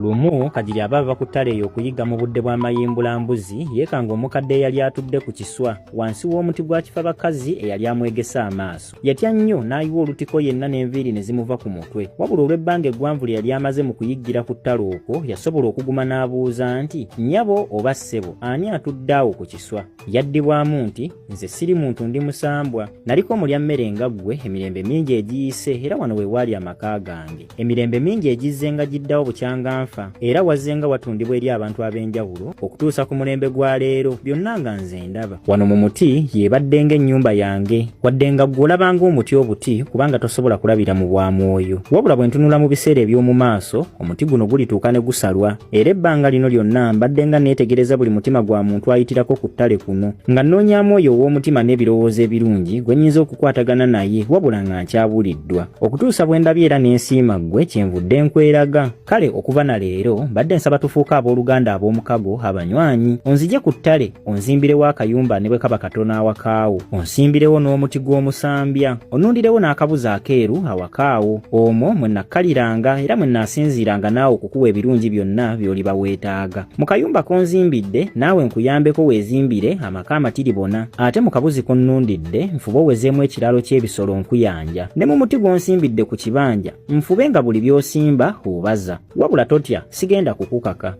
Lumu Kagiri aba ava ku ttale eyo okuyigga mu budde bwa mayimbula mbuzi, yeekanga omukadde eyali atudde ku kiswa wansi w'omuti gwa kifa bakazi eyali amwegese amaaso. Yatya nnyo n'ayiwa olutiko yenna n'enviiri ne zimuva ku mutwe. Wabula olw'ebbanga eggwanvu lye yali amaze mu kuyiggira ku ttale okwo, yasobola okuguma n'abuuza nti, Nnyabo oba ssebo, ani atudde awo ku kiswa? yaddibwamu nti nze siri muntu ndi musambwa naliko mulya mmere nga ggwe emirembe mingi egiyise era wano we waali amaka gange emirembe mingi egizze nga giddawo bukyanga nfa era wazze nga watundibwa eri abantu ab'enjawulo okutuusa ku mulembe gwa leero byonna nga nze ndaba wano mu muti yeebadde ng'ennyumba yange wadde nga ggwe olabanga omuti obuti kubanga tosobola kulabira mu bwa mwoyo wabula bwe ntunula mu biseera eby'omu maaso omuti guno gulituuka ne gusalwa era ebbanga lino lyonna mbadde nga neetegereza buli mutima gwa muntu ayitirako ku ttale kuno nga nnoonyamu oyo ow'omutima n'ebirowoozo ebirungi gwe nnyinza okukwatagana naye wabula nga nkyabuliddwa okutuusa bwe ndabye era n'ensiima ggwe kyenvudde nkweraga kale okuva na leero mbadde nsaba tufuuke abooluganda ab'omukago abanywanyi onzije ku ttale onzimbirewo akayumba ne bwe kaba katono awakaawo onsimbirewo n'omuti gw'omusambya onnundirewo n'akabuzi akeeru awakaawo omwo mwe nakkaliranga era mwe naasinziiranga naawe okukuwa ebirungi byonna by'oliba weetaaga mu kayumba konzimbidde naawe nkuyambeko weezimbire amaka amatiribona ate mu kabuzi konnundidde nfube owezeemu ekiraalo ky'ebisolo nkuyanja ne mu muti gw'onsimbidde ku kibanja nfube nga buli by'osimba obaza wabula totya sigenda kukukaka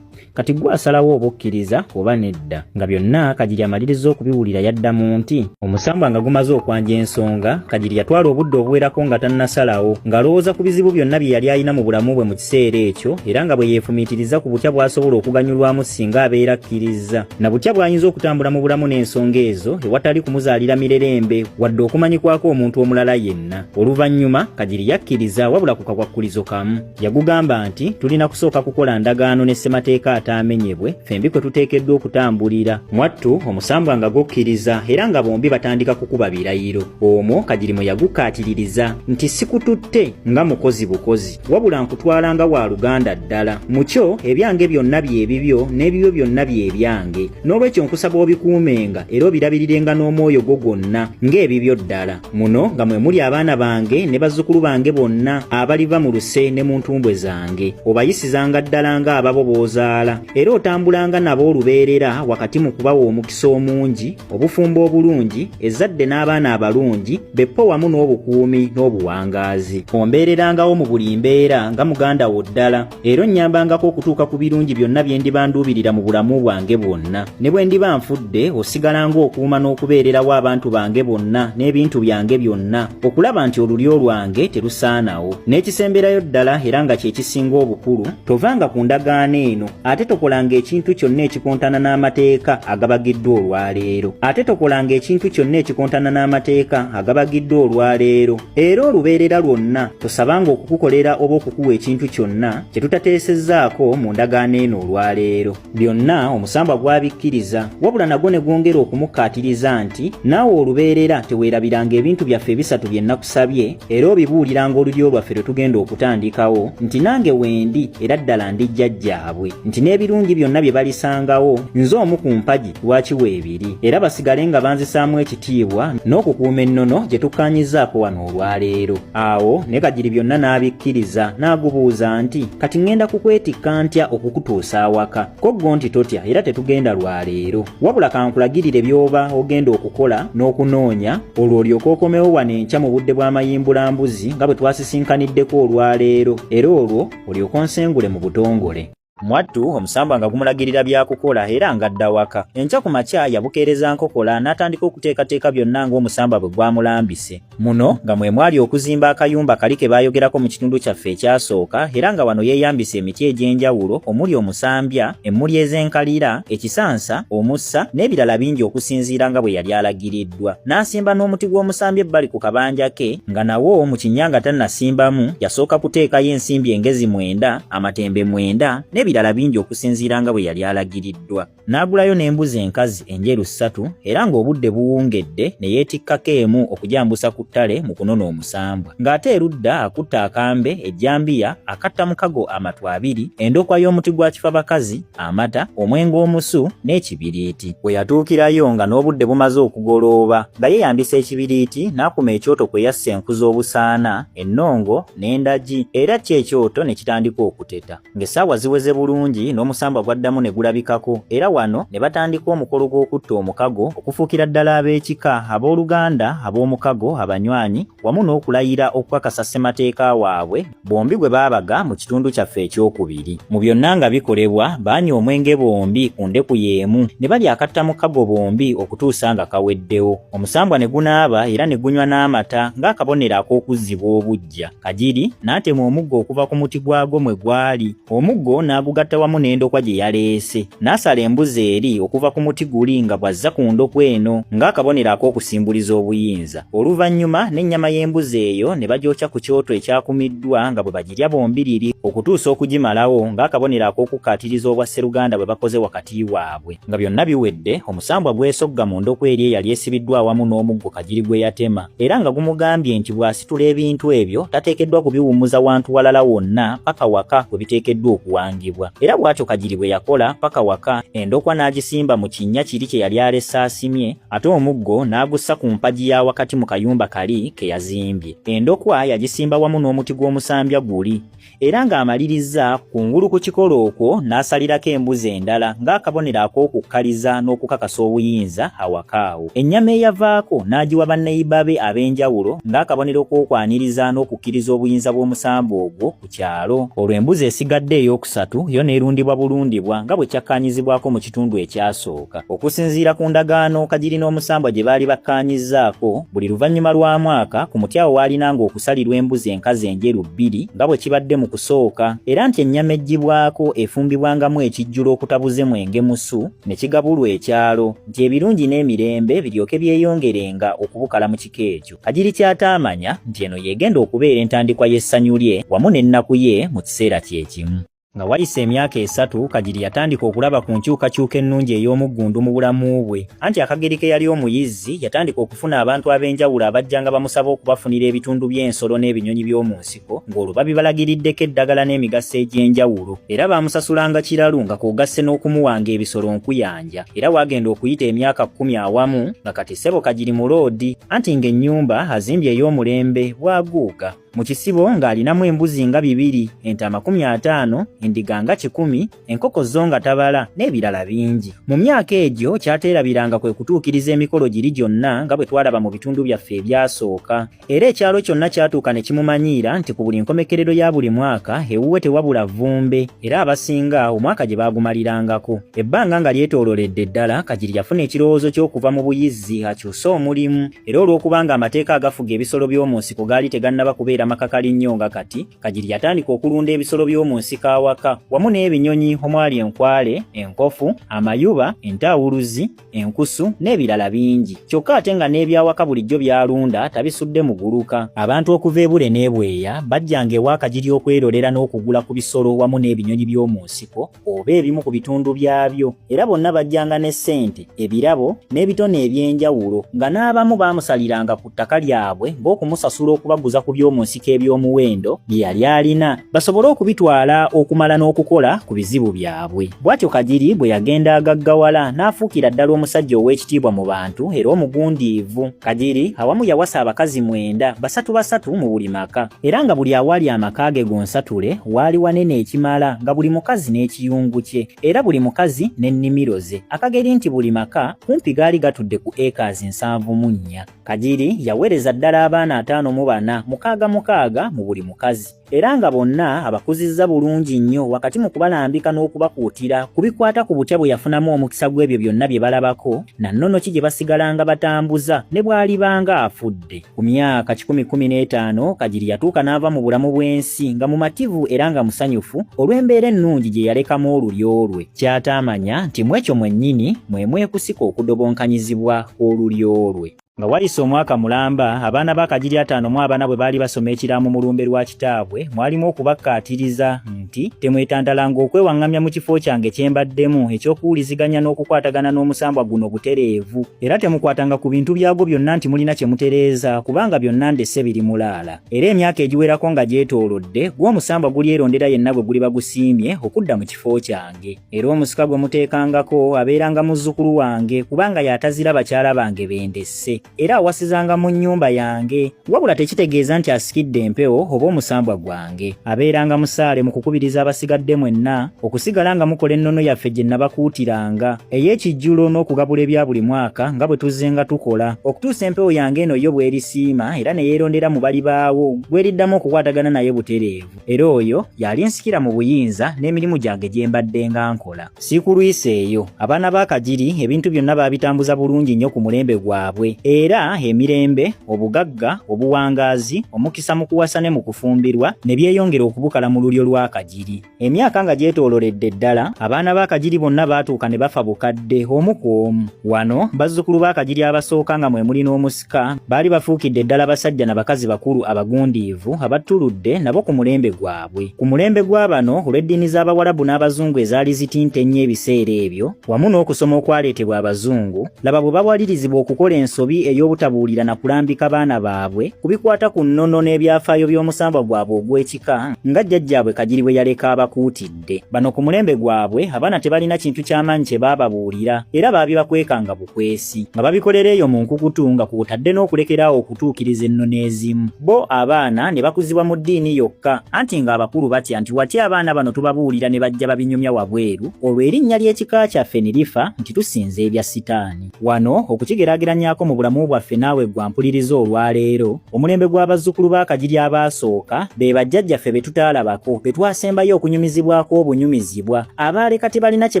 kati gwe asalawo oba okkiriza oba nedda nga byonna kagiri amaliriza okubiwulira yadda mu nti omusambwa nga gumaze okwanja ensonga kagiri yatwala obudde obuwerako nga tannasalawo ng'alowooza ku bizibu byonna bye yali alina mu bulamu bwe mu kiseera ekyo era nga bwe yeefumiitiriza ku butya bw'asobola okuganyulwamu singa abeera akkirizza na butya bw'ayinza okutambula mu bulamu n'ensonga ezo ewatali kumuzaalira mirerembe wadde okumanyikwako omuntu omulala yenna oluvannyuma kagiri yakkiriza wabula ku kakwakkulizo kamu Yagugamba nti tulina kusooka kukola ndagaano ne ssemateeka ataamenyebwe fembi kwe tuteekeddwa okutambulira. Mwattu omusambwa nga gukkiriza era nga bombi batandika kukuba birayiro. Omwo Kagirimu yagukaatiririza nti sikututte nga mukozi bukozi wabula nkutwala nga wa luganda ddala. Mu kyo ebyange byonna bye bibyo n'ebibyo byonna bye byange. N'olwekyo nkusaba obikuumenga era obirabirirenga n'omwoyo gwo gwonna ng'ebibyo ddala. muno nga mwe muli abaana bange ne bazzukulu bange bonna abaliva mu luse ne mu ntumbwe zange obayisizanga ddala nga ababo b'ozaala era otambulanga nabo olubeerera wakati mu kubawa omukisa omungi obufumbo obulungi ezzadde n'abaana abalungi beppo wamu n'obukuumi n'obuwangaazi ombeererangawo mu buli mbeera nga muganda wo ddala era onnyambangako okutuuka ku birungi byonna bye ndiba nduubirira mu bulamu bwange bwonna ne bwe ndiba nfudde osigalanga okuuma n'okubeererawo abantu bange bonna n'ebintu byange byonna okulaba nti olulyo lwange terusaanawo n'ekisemberayo ddala era nga kye kisinga obukulu tovanga ku ndagaano eno ate tokolanga ekintu kyonna ekikontana n'amateeka agabagiddwa olwaleero ate tokolanga ekintu kyonna ekikontana n'amateeka agabagiddwa olwaleero Era olubeerera lwonna tosabanga okukukolera oba okukuwa ekintu kyonna kye tutateesezzaako mu ndagaano eno olwaleero. Byonna omusambwa gwabikkiriza, wabula nagwo ne gwongera okumukkaatiriza nti naawe olubeerera teweerabiranga ebintu byaffe ebisatu bye nakusabye era obibuuliranga olulyo lwaffe lwe tugenda okutandikawo nti nange wendi era ddala ndi jjajjaabwe nti n'ebirungi byonna bye balisangawo nze omu ku mpagi lwaki weebiri era basigale nga banzisaamu ekitiibwa n'okukuuma ennono gye tukkaanyizaako wano olwaleero awo ne kagiri byonna n'abikkiriza n'agubuuza nti kati ŋŋenda kukwetikka ntya okukutuusa awaka ko ggo nti totya era tetugenda lwaleero wabula kankulagirire by'oba ogenda okukola n'okunoonya olwo olyoka okomewo wano enkya mu budde bw'amayimbulambuzi nga bwe twasisinkaniddeko olwaleero era olwo olyoka onsengule mu butongole Mwattu omusambwa nga gumulagirira byakukola era nga adda waka. Enkya ku makya yabukeereza nkokola n'atandika okuteekateeka byonna ng'omusambwa bwe gwamulambise. Muno nga mwe mwali okuzimba akayumba kali ke baayogerako mu kitundu kyaffe ekyasooka era nga wano yeeyambisa emiti egy'enjawulo omuli omusambya, emmuli ez'enkalira, ekisansa, omussa n'ebirala bingi okusinziira nga bwe yali alagiriddwa. N'asimba n'omuti gw'omusambya ebbali ku kabanja ke nga nawo mu kinnya nga tannasimbamu yasooka kuteekayo ensimbi engezi mwenda amatembe mwenda n'ebirala bingi okusinziira nga bwe yali alagiriddwa. N'agulayo n'embuzi enkazi enjeru ssatu era ng'obudde buwungedde ne yeetikkako emu okugyambusa ku ttale mu kunona omusambwa. Ng'ate erudda akutte akambe, ejjambiya, akatta mukago amatu abiri, endokwa y'omuti gwa kifabakazi, amata, omwenge omusu n'ekibiriiti. We yatuukirayo nga n'obudde bumaze okugolooba nga yeeyambisa ekibiriiti n'akuma ekyoto kwe yassa enku z'obusaana, ennongo, n'endagi era kyo ekyoto ne kitandika okuteta ng'essaawa ziweze bulungi n'omusambwa gwaddamu ne gulabikako era wano ne batandika omukolo gw'okutta omukago okufuukira ddala ab'ekika ab'oluganda ab'omukago abanywanyi wamu n'okulayira okukakasa ssemateeka waabwe bombi gwe baabaga mu kitundu kyaffe ekyokubiri mu byonna nga bikolebwa baanywa omwenge bombi ku ndeku y'emu ne balya akatta mukago bombi okutuusa nga kaweddewo Omusambwa ne gunaaba era ne gunywa n'amata ng'akabonero ak'okuzzibwa obuggya. Kagiri n'atema omuggo okuva ku muti gwagwo mwe gwali, omuggo n'agugatta wamu n'endokwa gye yaleese. N'asala embuzi eri okuva ku muti guli nga bw'azza ku ndokwa eno ng'akabonero ak'okusimbuliza obuyinza. Oluvannyuma n'ennyama y'embuzi eyo ne bagyokya ku kyoto ekyakumiddwa nga bwe bagirya bombiriri okutuusa okugimalawo ng'akabonero ak'okukkaatiriza obwa sseruganda bwe bakoze wakati waabwe. Nga byonna biwedde, omusambwa gwesogga mu ndokwa eri eyali esibiddwa awamu n'omuggo kagiri gwe yatema, era nga gumugambye nti bw'asitula ebintu ebyo tateekeddwa kubiwummuza wantu walala wonna paka waka we biteekeddwa okuwangibwa. Era bw'atyo kagiri bwe yakola paka waka, endokwa n'agisimba mu kinnya kiri kye yali alese asimye, ate omuggo n'agussa ku mpagi ya wakati mu kayumba kali ke yazimbye. Endokwa yagisimba wamu n'omuti gw'omusambya guli. era ng'amalirizza kungulu ku kikolo okwo n'asalirako embuzi endala ng'akabonero ak'okukkaliza n'okukakasa obuyinza awaka awo ennyama eyavaako n'agiwa banneyiba be ab'enjawulo ng'akabonero k'okwaniriza n'okukkiriza obuyinza bw'omusambwa ogwo ku kyalo olwo embuzi esigadde ey'okusatu yo n'erundibwa bulundibwa nga bwe kyakkaanyizibwako mu kitundu ekyasooka kyokka. Okusinziira ku ndagaano Kagiri n'omusambwa gye baali bakkaanyizzaako, buli luvannyuma lwa mwaka ku muti awo waalinanga okusalirwa embuzi enkazi enjeru bbiri nga bwe kibadde mu kusooka, era nti ennyama eggyibwako efumbibwangamu ekijjulo okutabuze mwenge musu ne kigabulwa ekyalo nti ebirungi n'emirembe biryoke byeyongerenga okubukala mu kika ekyo. Kagiri ky'ataamanya nti eno y'egenda okubeera entandikwa y'essanyu lye wamu n'ennaku ye mu kiseera kye kimu. Nga wayise emyaka esatu, Kagiri yatandika okulaba ku nkyukakyuka ennungi ey'omuggundu mu bulamu bwe. Anti Akagiri ke yali omuyizzi, yatandika okufuna abantu ab'enjawulo abajjanga bamusaba okubafunira ebitundu by'ensolo n'ebinyonyi by'omu nsiko, ng'olwo babibalagiriddeko eddagala n'emigaso egy'enjawulo. Era baamusasulanga kiralu nga kwogasse n'okumuwanga ebisolo nkuyanja. Era waagenda okuyita emyaka kkumi awamu, nga kati Ssebo Kagiri muloodi. Anti ng'ennyumba azimbye ey'omulembe, bwaguuga. Mu kisibo ng'alinamu embuzi nga bibiri, ente amakumi ataano, endiga nga kikumi, enkoko zo nga tabala, n'ebirala bingi. Mu myaka egyo kyateerabiranga kwe kutuukiriza emikolo giri gyonna nga bwe twalaba mu bitundu byaffe ebyasooka. Era ekyalo kyonna kyatuuka ne kimumanyiira nti ku buli nkomekerero ya buli mwaka ewuwe tewabula vvumbe, era abasinga omwaka gye baagumalirangako. Ebbanga nga lyetoololedde ddala, Kagiri yafuna ekirowoozo ky'okuva mu buyizzi akyuse omulimu. era olw'okubanga amateeka agafuga ebisolo by'omu nsiko gaali tegannaba kubeera makakali nnyo nga kati kagiri yatandika okulunda ebisolo by'omu nsiko awaka wamu n'ebinyonyi omwali enkwale enkofu amayuba entaawuluzi enkusu n'ebirala bingi kyokka ate nga n'ebyawaka bulijjo byalunda tabisudde muguluka abantu okuva ebule n'ebweya bajjanga ewa kagiri okwerolera n'okugula ku bisolo wamu n'ebinyonyi by'omu nsiko oba ebimu ku bitundu byabyo era bonna bajjanga ne ssente ebirabo n'ebitone eby'enjawulo nga n'abamu baamusaliranga ku ttaka lyabwe ng'okumusasula okubaguza ku by'omu nsiko eby'omuwendo bye yali alina basobole okubitwala okumala n'okukola ku bizibu byabwe bw'atyo kagiri bwe yagenda agaggawala n'afuukira ddala omusajja ow'ekitiibwa mu bantu era omugundiivu Kagiri awamu yawasa abakazi mwenda basatu basatu mu buli maka era nga buli awaali amaka ge gonsatule waali wanene ekimala nga buli mukazi n'ekiyungu kye era buli mukazi n'ennimiro ze akageri nti buli maka kumpi gaali gatudde ku ekaazi nsanvu mu nnya Kagiri yaweereza ddala abaana ataano mu bana mukaaga mukaaga mu buli mukazi era nga bonna abakuzizza bulungi nnyo wakati mu kubalambika n'okubakuutira ku bikwata ku butya bwe yafunamu omukisa gw'ebyo byonna bye balabako na nnono ki gye basigalanga batambuza ne bw'alibanga afudde ku myaka kikumi kumi n'etaano kagiri yatuuka n'ava mu bulamu bw'ensi nga mumativu era nga musanyufu olw'embeera ennungi gye yalekamu olulyo lwe kyataamanya nti mwekyo mwennyini mwe mwekusika okudobonkanyizibwa olulyo lwe Nga wayise omwaka mulamba, abaana ba Kagiri ataano mu abana bwe baali basoma ekiraamo mu lumbe lwa kitaabwe, mwalimu okubakkaatiriza nti, temwetantalanga okwewaŋŋamya mu kifo kyange kye mbaddemu eky'okuwuliziganya n'okukwatagana n'omusambwa guno butereevu, era temukwatanga ku bintu byagwo byonna nti mulina kye mutereeza, kubanga byonna ndese biri mulaala. Era emyaka egiwerako nga gyetoolodde, gwo omusambwa gulyerondera yenna gwe guliba gusiimye okudda mu kifo kyange. era omusika gwe muteekangako abeeranga muzzukulu wange kubanga y'atazira bakyala bange bendesse era awasizanga mu nnyumba yange wabula tekitegeeza nti asikidde empewo oba omusambwa gwange abeeranga musaale mu kukubiriza abasigadde mwenna okusigala nga mukola ennono yaffe gye nabakuutiranga ey'ekijjulo n'okugabula ebya buli mwaka nga bwe tuzzenga tukola okutuusa empewo yange eno yo bw'erisiima era ne yeerondera mu bali baawo gweriddamu okukwatagana naye butereevu era oyo y'alinsikira mu buyinza n'emirimu gyange gye mbadde nga nkola sikulwisa eyo abaana ba kagiri ebintu byonna baabitambuza bulungi nnyo ku mulembe gwabwe era emirembe obugagga obuwangaazi omukisa mu kuwasa ne mu kufumbirwa ne byeyongera okubukala mu lulyo lwa kagiri emyaka nga gyetooloredde ddala abaana ba kagiri bonna baatuuka ne bafa bukadde omu ku omu wano bazzukulu ba kagiri abasooka nga mwe muli n'omusi Ka baali bafuukidde ddala basajja na bakazi bakulu abagundiivu abattuludde nabo ku mulembe gwabwe. Ku mulembe gwa bano olw'eddiini z'Abawarabu n'Abazungu ezaali zitinta ennyo ebiseera ebyo, wamu n'okusoma okwaleetebwa Abazungu, laba bwe bawalirizibwa okukola ensobi ey'obutabuulira na kulambika baana baabwe ku bikwata ku nnono n'ebyafaayo by'omusambwa gwabwe ogw'ekika nga jjajjaabwe Kagiri bwe yaleka abakuutidde. bw'obudde. Bano ku mulembe gwabwe abaana tebalina kintu ky'amaanyi kye baababuulira era baabibakwekanga bukwesi nga babikolera eyo mu nkukutu nga kw'otadde n'okulekera awo okutuukiriza ennono ezimu. Bo abaana ne bakuzibwa mu ddiini yokka anti ng'abakulu batya nti watya abaana bano tubabuulira ne bajja babinyumya wabweru olwo erinnya ly'ekika kyaffe ne lifa nti tusinza ebya sitaani. Wano okukigeraageranyaako mu bulamu bwaffe naawe gwa mpuliriza olwaleero, omulembe gw'abazzukulu ba Kagiri abaasooka be bajjajjaffe be tutaalabako, be twasembayo okunyumizibwako obunyumizibwa, abaali kati balina kye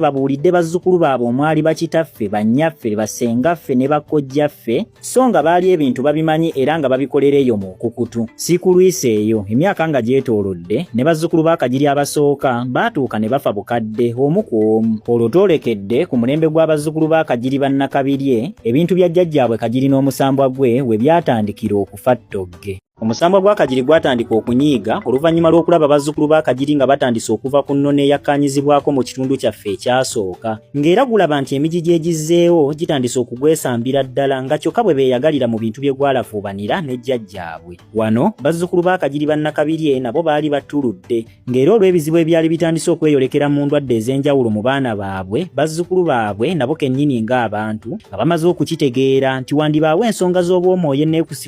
babuulidde bazzukulu baabwe omwali bakitaffe, bannyaffe, bassengaffe ne bakkojjaffe, so nga baali ebintu babimanyi era nga babikolera eyo mu nkukutu. Siikulwisa eyo emyaka nga gyetoolodde ne bazzukulu ba Kagiri abasooka baatuuka ne bafa bukadde omu ku omu. Olwo twolekedde ku mulembe gw'abazzukulu ba Kagiri ba Nnakabirye ebintu bya jjajjaabwe Kagiri n'omusambwa gwe we byatandikira okufa ttogge. Omusambwa gwa Kagiri gwatandika okunyiiga oluvannyuma lw'okulaba bazzukulu ba Kagiri nga batandise okuva ku nnono eyakkaanyizibwako mu kitundu kyaffe ekyasooka. ng'era gulaba nti emiji gyegizzeewo gitandise okugwesambira ddala nga kyokka bwe beeyagalira mu bintu bye gwalafuubanira ne jjajjaabwe wano bazzukulu ba kagiri bannakabirye nabo baali battuludde ng'era olw'ebizibu ebyali bitandise okweyolekera mu ndwadde ez'enjawulo mu baana baabwe bazzukulu baabwe nabo kennyini ng'abantu nga bamaze okukitegeera nti wandibaawo ensonga z'obwomwoyo eneekusi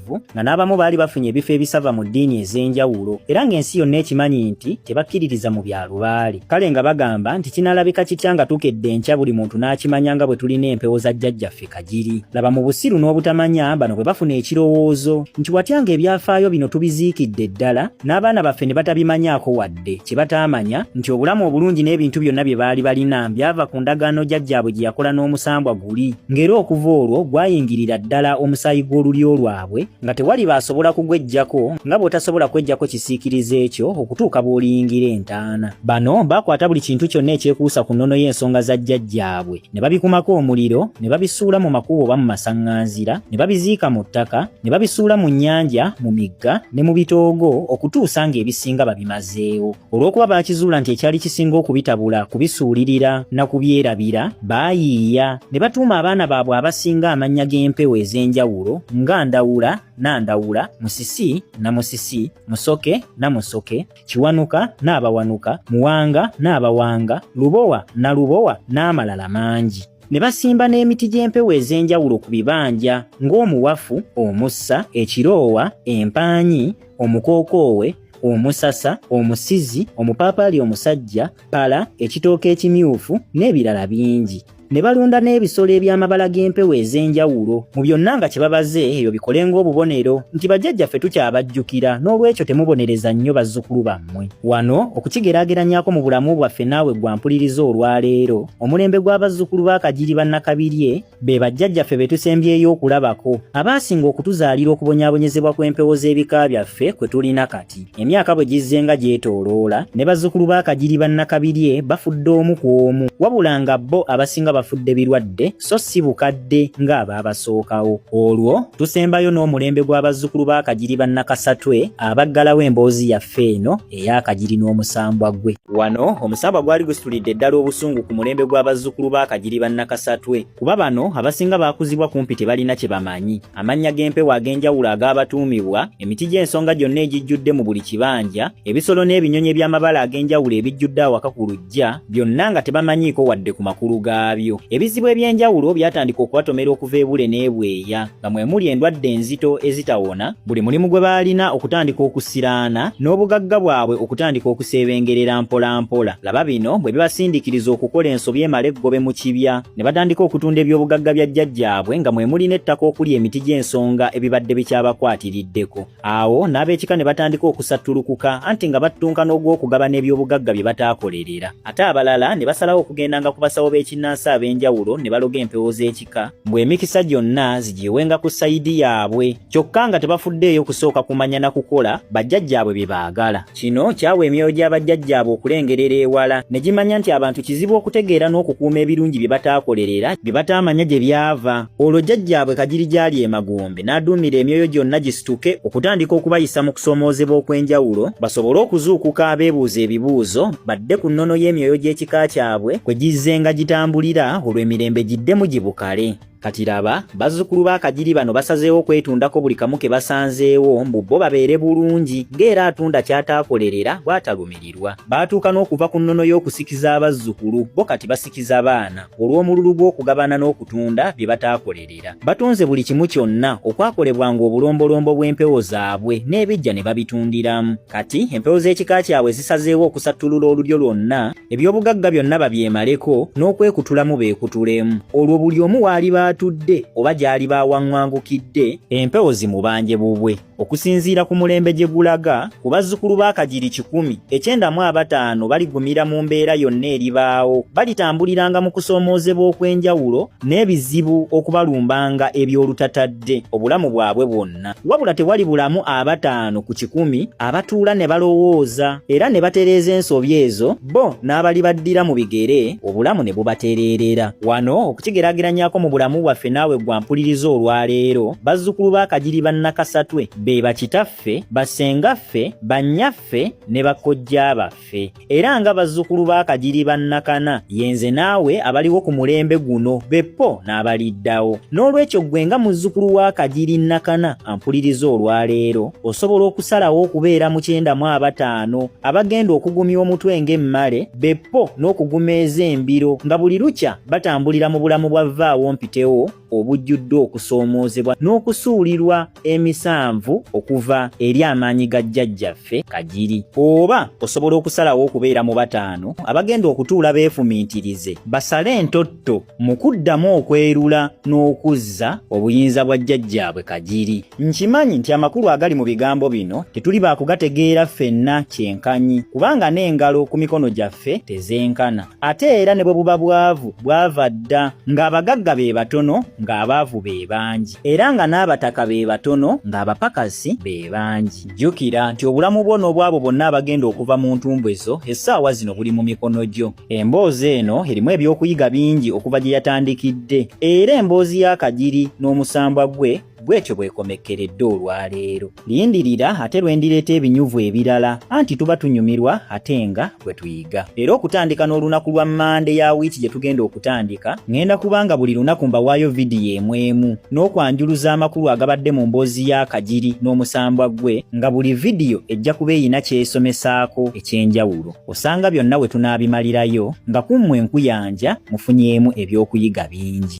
bwesimbu nga n'abamu baali bafunye ebifo ebisava mu ddiini ez'enjawulo era ng'ensi yonna ekimanyi nti tebakkiririza mu bya lubaali kale nga bagamba nti kinaalabika kitya nga tukedde enkya buli muntu n'akimanya nga bwe tulina empewo za jjajjaffe kagiri laba mu busiru n'obutamanya bano bwe bafuna ekirowoozo nti watya ng'ebyafaayo bino tubiziikidde ddala n'abaana baffe ne batabimanyaako wadde baaludde kye bataamanya nti obulamu obulungi n'ebintu byonna bye baali balina byava ku ndagaano jjajjaabwe gye yakola n'omusambwa guli ng'era okuva olwo gwayingirira ddala omusaayi gw'olulyo lwabwe nga tewali baasobola kugweggyako nga bw'otasobola kweggyako kisiikiriza ekyo okutuuka bw'oliyingira entaana bano baakwata buli kintu kyonna ekyekuusa ku nnono y'ensonga za jjajjaabwe ne babikumako omuliro ne babisuula mu makubo oba mu masaŋŋanzira ne babiziika mu ttaka ne babisuula mu nnyanja mu migga ne mu bitoogo okutuusa ng'ebisinga babimazeewo olw'okuba baakizuula nti ekyali kisinga okubitabula kubisuulirira na kubyerabira baayiiya ne batuuma abaana baabwe abasinga amannya g'empewo ez'enjawulo nga ndawula na ndawula musisi na musisi musoke na musoke Kiwanuka n'abawanuka, Muwanga n'abawanga, Lubowa na Lubowa n'amalala mangi. Ne basimba n'emiti gy'empewo ez'enjawulo ku bibanja ng'omuwafu, omussa, ekiroowa, empaanyi, omukookoowe, omusasa, omusizi, omupaapaali omusajja, pala, ekitooke ekimyufu n'ebirala bingi. ne balunda n'ebisolo eby'amabala g'empewo ez'enjawulo mu byonna nga kye babaze ebyo bikole ng'obubonero nti bajjajjaffe tukyabajjukira n'olwekyo temubonereza nnyo bazzukulu bammwe wano okukigeraageranyako mu bulamu bwaffe naawe gwampuliriza olwaleero omulembe gw'abazzukulu b'akagiri bannakabirye be bajjajjaffe be tusembyeyo okulabako abaasinga okutuzaalira okubonyabonyezebwa kw'empewo z'ebika byaffe kwe tulina kati Kati emyaka bwe gizze nga gyetooloola ne bazzukulu ba Kagiri ba Nakabirye bafudde omu ku omu wabula nga bo abasinga bafudde birwadde so si bukadde ng'abaabasookawo. Olwo tusembayo n'omulembe gwa bazzukulu ba Kagiri ba Nakasatwe abaggalawo emboozi yaffe eno eya Kagiri n'omusambwa gwe. Wano omusambwa gwali gusitulidde ddala obusungu ku mulembe gwa bazzukulu ba Kagiri ba Nakasatwe kuba bano abasinga baakuzibwa kumpi tebalina kye bamanyi. amannya g'empewo ag'enjawulo ag'abatuumibwa, emiti gy'ensonga gyonna egijjudde mu buli kibanja, ebisolo n'ebinyonyi eby'amabala ag'enjawulo ebijjudde awaka ku luggya, byonna nga tebamanyiiko wadde ku makulu gaabyo. Ebizibu eby'enjawulo byatandika okubatomera okuva ebule n'ebweya, nga mwe muli endwadde enzito ezitawona, buli mulimu gwe baalina okutandika okusiraana, n'obugagga bwabwe okutandika okuseebengerera mpolampola. Laba bino bwe bibasindikiriza okukola ensobi emala eggobe mu kibya. ne batandika okutunda ebyobugagga bya jjajjaabwe nga mwe muli n'ettaka okuli emiti gy'ensonga ebibadde bikyabakwatiriddeko awo n'ab'ekika ne batandika okusattulukuka anti nga battunka n'ogw'okugabana ebyobugagga bye bataakolerera ate abalala ne basalawo okugendanga ku basawo b'ekinnansi ab'enjawulo ne baloga empewo z'ekika mbu emikisa gyonna zigiwewenga ku sayidi yaabwe kyokka nga tebafuddeeyo kusooka kumanya na kukola bajjajjaabwe bye baagala Kino kyawa emyoyo gya bajjajjaabwe okulengerera ewala ne gimanya nti abantu kizibu okutegeera n'okukuuma ebirungi bye bataakolerera bye bataamanya gye byava. Olwo jjajjaabwe Kagiri gy'ali e Magombe n'aduumira emyoyo gyonna gisituke okutandika okubayisa mu kusoomoozebwa okw'enjawulo basobole okuzuukuka abeebuuza ebibuuzo badde ku nnono y'emyoyo gy'ekika kyabwe kwe gizzenga gitambulira olwo emirembe giddemu gibukale. Kati laba, bazzukulu ba Kagiri bano basazeewo kwetundako buli kamu ke basanzeewo mbu bo babeere bulungi ng'era atunda ky'ataakolerera bw'atalumirirwa. Baatuuka n'okuva ku nnono y'okusikiza abazzukulu bo kati basikiza baana olw'omululu gw'okugabana n'okutunda bye bataakolerera. Batunze buli kimu kyonna okwakolebwanga obulombolombo bw'empewo zaabwe n'ebijja ne babitundiramu. Kati empewo z'ekika kyabwe zisazeewo okusattulula olulyo lwonna ebyobugagga byonna babyemaleko n'okwekutulamu beekutulemu olwo buli omu waali baatudde oba gy'ali baawaŋŋangukidde empewo zimubanje bubwe okusinziira ku mulembe gye gulaga ku bazzukulu ba kagiri kikumi ekyendamu abataano baligumira mu mbeera yonna eribaawo balitambuliranga mu kusoomoozebwa okw'enjawulo n'ebizibu okubalumbanga eby'olutatadde obulamu bwabwe bwonna bonna. Wabula tewali bulamu abataano ku kikumi abatuula ne balowooza era ne batereeza ensobi ezo bo n'abali baddira mu bigere obulamu ne bubatereerera. Wano okukigeraageranyako mu bulamu bwaffe naawe gwa mpuliriza olwaleero bazzukulu ba Kagiri Bannakasatwe be bakitaffe, bassengaffe, bannyaffe ne bakojja baffe. era nga bazzukulu ba kagiri bannakana yenze naawe abaliwo ku mulembe guno beppo n'abaliddawo n'olwekyo ggwe nga muzzukulu wa kagiri nnakana ampuliriza olwaleero osobola okusalawo okubeera mu kyendamu abataano abagenda okugumya omutwe ng'emmale beppo n'okuguma ez'embiro nga buli lukya batambulira mu bulamu bwa vvaawo mpitewo obujjudde okusoomoozebwa n'okusuulirwa emisanvu okuva eri amaanyi ga jjajjaffe kagiri oba osobola okusalawo okubeera mu bataano abagenda okutuula beefumiitirize basale entotto mu kuddamu okwerula n'okuzza obuyinza bwa jjajjaabwe kagiri nkimanyi nti amakulu agali mu bigambo bino tetuli baakugategeera ffenna kyenkanyi kubanga n'engalo ku mikono gyaffe tezenkana ate era ne bwe buba bwavu bwava dda ng'abagagga be batono ng'abaavu be bangi era nga n'abataka be batono ng'abapakasi be bangi jjukira nti obulamu bwo n'obwabo bonna abagenda okuva mu ntumbwe zo essaawa zino buli mu mikono gyo emboozi eno erimu ebyokuyiga bingi okuva gye yatandikidde era emboozi y'akagiri n'omusambwa gwe bwetyo bwekomekkeredde olwaleero lindirira ate lwendireeta ebinyuvu ebirala anti tuba tunyumirwa ate nga bwe tuyiga era okutandika n'olunaku lwa mande ya wiiki gye tugenda okutandika ngenda kubanga buli lunaku mbawaayo vidiyo emu emu n'okwanjuluza amakulu agabadde mu mboozi ya kagiri n'omusambwa gwe nga buli vidiyo ejja kuba eyina kyesomesaako eky'enjawulo osanga byonna we tunaabimalirayo nga kummwe enkuyanja mufunyeemu ebyokuyiga bingi